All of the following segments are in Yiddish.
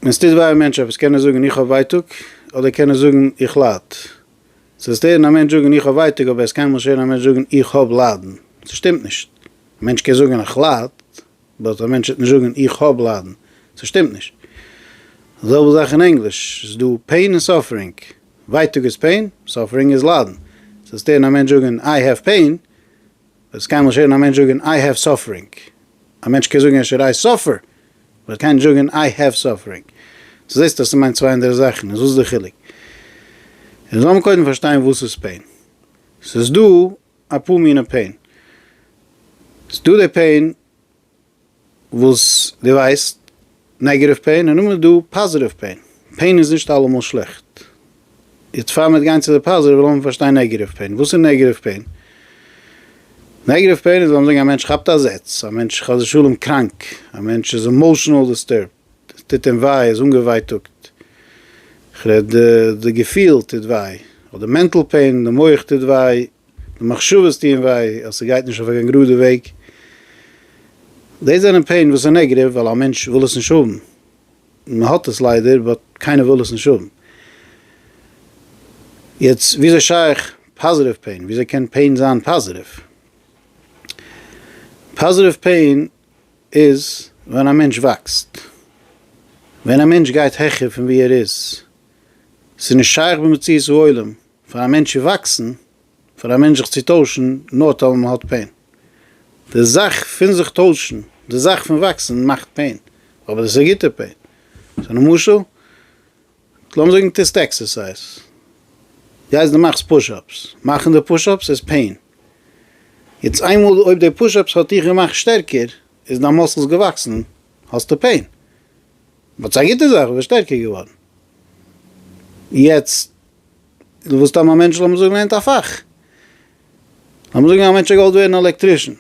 ווען ס'טוט וויי א מענטש עפעס קען ער זאגן איך האב ווייטאג, אדער קען ער זאגן איך לייד. ס'וועט שטערן א מענטש זאגן איך האב ווייטאג אבער עס וועט קיינמאל שטערן א מענטש זאגן איך האב ליידן. ס'שטימט נישט. א מענטש קען זאגן איך לייד, באט א מענטש וועט נישט זאגן איך האב ליידן. ס'שטימט נישט. די זעלבע זאך אין ענגליש. ס'איז דא פעין און סאפערינג. ווייטאג איז פעין, סאפערינג איז ליידן. ס'וועט שטערן א מענטש זאגן איי העוו פעין, וועסט קיינמאל נישט הערן א מענטש זאגן איי העוו סאפערינג. א מענטש קען זאגן עשר איי סאפער, אבער ער קען נישט זאגן איי העוו סאפערינג. צו זעסט אז ס'מיינט צוויי אנדערע זאכן, איז וואס די חילוק? און זאל מען קודם פארשטיין וואס איז פעין. ס'איז דא אפאר מינע פעין. ס'איז דא די פעין וואס דו ווייסט, נעגעטיוו פעין און נאכדעם איז דא פאזעטיוו פעין, פעין איז נישט אלעמאל שלעכט, יעצט פאר מיר גיין צו די פאזעטיוו לאמיר פארשטיין נעגעטיוו פעין, וואס איז נעגעטיוו פעין? נעגעטיוו פעין איז לאמיר זאגן א מענטש כאפט א זעץ, א מענטש חס ושלום קראנק, א מענטש איז עמאושענעל דיסטורבט, עס טוט אים וויי, ער איז אנגעווייטאגט, כ'רעד די געפיל טוט וויי, אדער מענטל פעין, די מח טוט וויי, די מחשבות טוען וויי, אז ס'גייט נישט אויף קיין גראדע וועג. דאס זענען פעין וואס איז נעגעטיוו ווייל א מענטש וויל עס נישט האבן, מען האט עס ליידער באט קיינער וויל עס נישט האבן. יעצט וויאזוי שייך פאזעטיוו פעין? וויאזוי קען פעין זיין פאזעטיוו? פאזעטיוו פעין איז ווען א מענטש וואקסט, ווען א מענטש גייט העכער פון ווי ער איז, ס'איז נישט שייך במציאות העולם פאר א מענטש צו וואקסן, פאר א מענטש זיך צו טוישן, נאר טאמער מען האט פעין. די זאך פון זיך טוישן, די זאך פון וואקסן מאכט פעין, אבער דאס איז א גוטע פעין. ס'איז א משל. לאמיר זאגן טוסט עקסערסייז, גייסט דו מאכסט פושאפס, מאכן די פושאפס איז פעין, יעצט איינמאל אויב די פושאפס האט דיך געמאכט שטערקער, איז דיין מאסלס געוואקסן, האסטו פעין, באט ס'איז א גוטע זאך, ביסט שטערקער געווארן, יעצט וואס טאר מיין מענטש, לאמיר זאגן לערנט א פאך, לאמיר זאגן א מענטש געוואלט ווערן עלעקטרישן.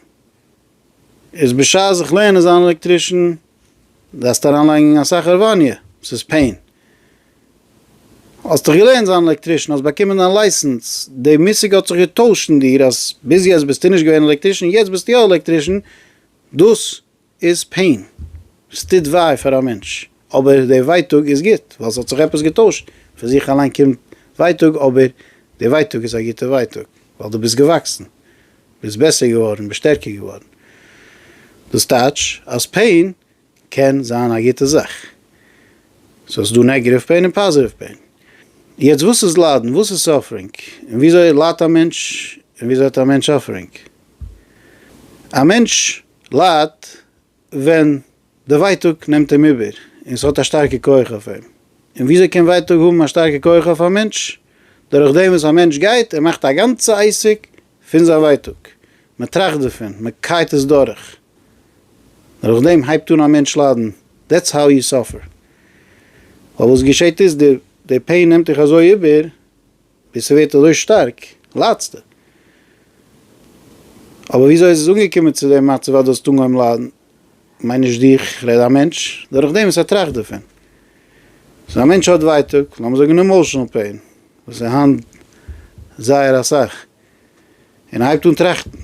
איז בשעת זיך לערנען זיין עלעקטרישן דארפסטו אריינלייגן אסאך הארוואניע, ס'איז פעין. האסט דיך געלערנט זיין עלעקטרישן, האסט באקומען דיין לייסענס, די מושג האט זיך געטוישט אין דיר אז ביז יעצט ביסטו נישט געווען עלעקטרישן, יעצט ביסטו יא עלעקטרישן, דאס איז פעין, עס טוט וויי פאר א מענטש. אבער די ווייטאג איז גוט ווייל ס'האט זיך עפעס געטוישט, פון זיך אליין קומט ווייטאג אבער די ווייטאג איז א גוטע ווייטאג ווייל דו ביסט געוואקסן, ביסט בעסער געווארן, ביסט שטערקער געווארן. דאס טייטש אז פעין קען זיין א גוטע זאך. ס'איז דא נעגעטיוו פעין און פאזעטיוו פעין. יעצט וואס איז ליידן? וואס איז סאפערינג? און וויאזוי ליידט א מענטש? און וויאזוי האט א מענטש סאפערינג? א מענטש ליידט ווען די ווייטאג נעמט אים איבער און ס'האט א שטארקע כח אויף אים, און וויאזוי קען ווייטאג האבן א שטארקע כח אויף א מענטש? דורך דעם וואס א מענטש גייט און מאכט א גאנצע עסק פון זיין ווייטאג, מען טראכט דערפון, מען קייט עס דורך, דורך דעם הייבט אן א מענטש ליידן, דעטס האו יו סאפער, ווייל וואס געשעט איז די פעין נעמט דיך אזוי איבער ווי ס'ווערט אזוי שטארק ליידסטו. אבער וויאזוי איז עס אנגעקומען צו דעם מצב אז דו האסט אנגעהויבן ליידן? כ'מיין נישט דיך, כ'רעד א מענטש דורך דעם וואס ער טראכט דערפון. סאו א מענטש האט ווייטאג, לאמיר זאגן אימאושענעל פעין, וואס איז היינט זייער אסאך, און ער הייבט אן טראכטן.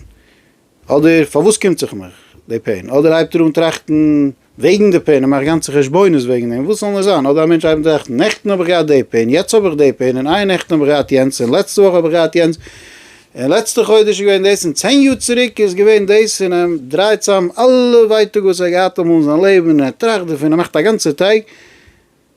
אדער פארוואס קומט זיך מיך די פעין? אדער הייבט ער אן טראכטן וועגן די פעין און מאכט גאנצע חשבונות וועגן דעם, וואס זאל נאר זיין, אדער א מענטש הייבט אן טראכטן, נעכטן האב איך געהאט די פעין, יעצט האב איך די פעין, און איי נעכטן האב איך געהאט יענץ, און לעצטע וואך האב איך געהאט יענץ, און לעצטע חודש איז געווען דאס, און צען יאר צוריק איז געווען דאס, און ער דרייט צוזאם אלע ווייטאג וואס ער האט געהאט אמאל אין זיין לעבן, און ער טראכט דערפון, ער מאכט א גאנצע טייג,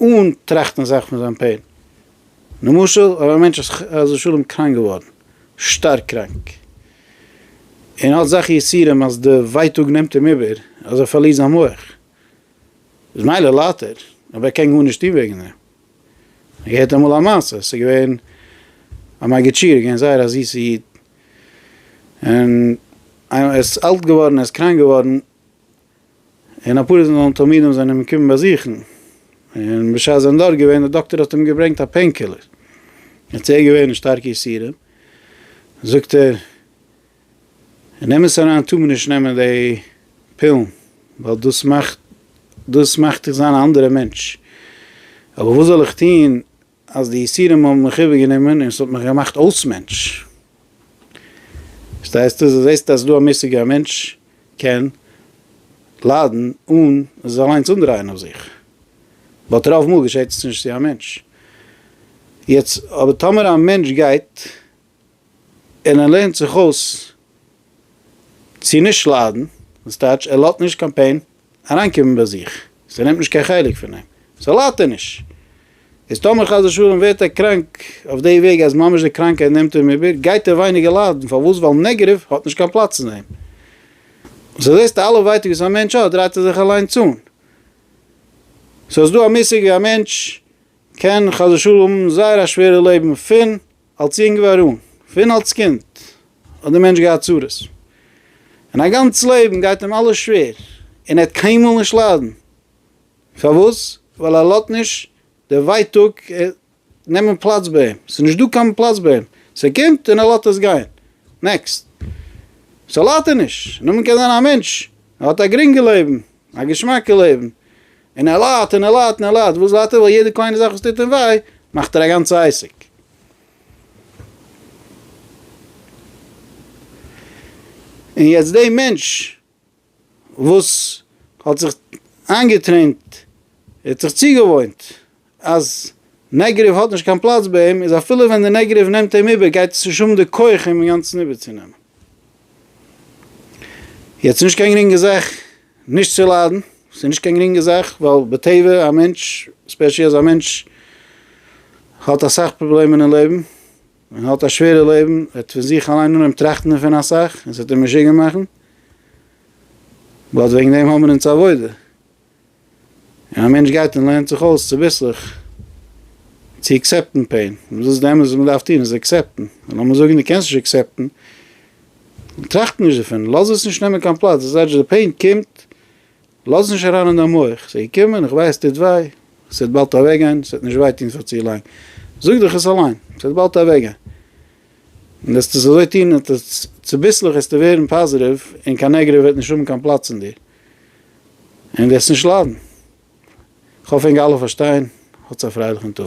אן טראכטן זיך פון זיין פעין. למשל אויב א מענטש איז חס ושלום קראנק געווארן, שטארק קראנק, און האט אזעלכע יסורים אז די ווייטאג נעמט אים איבער אז ער פארלירט זיין מח, איז מילא ליידט ער, אבער ער קען גארנישט טון וועגן דעם. איך געהערט אמאל א מעשה, ס'איז געווען א מגיד שיעור, איז געווען זייער א זיסע איד, און ער איז אלט געווארן, ער איז קראנק געווארן, און אפאר איז זיין תלמידים זענען אים געקומען באזוכן, און בשעת זיי זענען דארט געווען, דער דאקטער האט אים געברענגט א פעין קילער, און צו ער איז געווען אין שטארקע יסורים, זאגט ער, אין אמת אריין טאר מען נישט נעמען די פילן, ווייל דאס מאכט דאס מאכט דיך זיין א אנדערע מענטש, אבער וואס זאל איך טון אז די יסורים האבן מיך איבערגענומען און עס האט מיך געמאכט אלס מענטש. פארשטייסטו? אז דו זעסט אז דא א מושג א מענטש קען ליידן אן עס אליינס אנדרייען אויף זיך, באט רוב מאל געשעט עס נישט צו א מענטש. יעצט אבער טאמער א מענטש גייט און ער לערנט זיך אויס צו נישט ליידן, וואס טייטש ער לאזט נישט קיין פעין אריינקומען ביי זיך, ס'נעמט נישט קיין חלק פון אים, סאו ליידט ער נישט. איז טאמער חס ושלום ווערט ער קראנק אויף די וועג אז ממש די קראנקייט נעמט אים איבער, גייט ער ווייניגער ליידן, פארוואס? ווייל נעגעטיוו האט נישט קיין פלאץ אין אים. סאו זעסטו אלע ווייטאג וואס א מענטש האט דרייט ער זיך אליינס אן. סאו ס'דא א מושג ווי א מענטש קען חס ושלום האבן זייער א שווערע לעבן פון אלס יונג ווי ארום, פון אלס קינד האט די מענטש געהאט צרות און א גאנץ לעבן גייט אים אלעס שווער און ער וועט קיינמאל נישט ליידן, פארוואס? ווייל ער לאזט נישט די ווייטאג נעמען פלאץ ביי אים, ס'איז נישט דא קיין פלאץ ביי אים, ס'קומט און ער לאזט עס גיין, נעקסט. ס'ליידט ער נישט, נאכדעם קען זיין א מענטש ער האט א גרינגע לעבן, א געשמאקע לעבן, און ער ליידט און ער ליידט און ער ליידט, וואס ליידט ער? ווייל יעדע קליינע זאך וואס טוט אים וויי, מאכט ער א גאנצע עסק. און יעצט די מענטש וואס האט זיך איינגעטרעינט, ער האט זיך צוגעוואוינט אז נעגעריוו האט נישט קיין פלאץ ביי אים, איז אפילו ווען די נעגעריוו נעמט אים איבער גייט עס נישט האבן די כח אים אינגאנצן איבערצונעמען. יעצט נישט קיין גרינגע זאך נישט צו ליידן, ס'איז נישט קיין גרינגע זאך ווייל בטבע א מענטש, ספעשי אז א מענטש האט אסאך פראבלעמען אין לעבן און האט א שווערע לעבן, וועט פון זיך אליין אנהויבן טראכטן דערפון אסאך און ס'וועט אים משוגע מאכן, באט וועגן דעם האבן מיר אונז עבודה. און א מענטש גייט און לערנט זיך אויס צוביסלעך צו עקסעפטן פעין, און דאס איז די אמת וואס מען דארף טון, איז עקסעפטן, און לאמיר זאגן דו קענסט נישט עקסעפטן, טראכט נישט דערפון, לאז עס נישט נעמען קיין פלאץ, דאס הייסט די פעין קומט, לאז עס נישט אריין אין דיין מח, עס איז געקומען, איך ווייס עס טוט וויי, עס וועט באלד אוועקגיין, עס וועט נישט וויי טון פאר צו לאנג, זאג דיך עס אליין, עס וועט באלד אוועקגיין, און וועסטו עס אזוי טון, צוביסלעך וועסטו ווערן פאזיטיוו, און קיין נעגעטיוו וועט נישט האבן קיין פלאץ אין דיר. ענק וועסט נישט ליידן. כ'האף ענק אלע פארשטייען. האטס א פרייליכן טאג.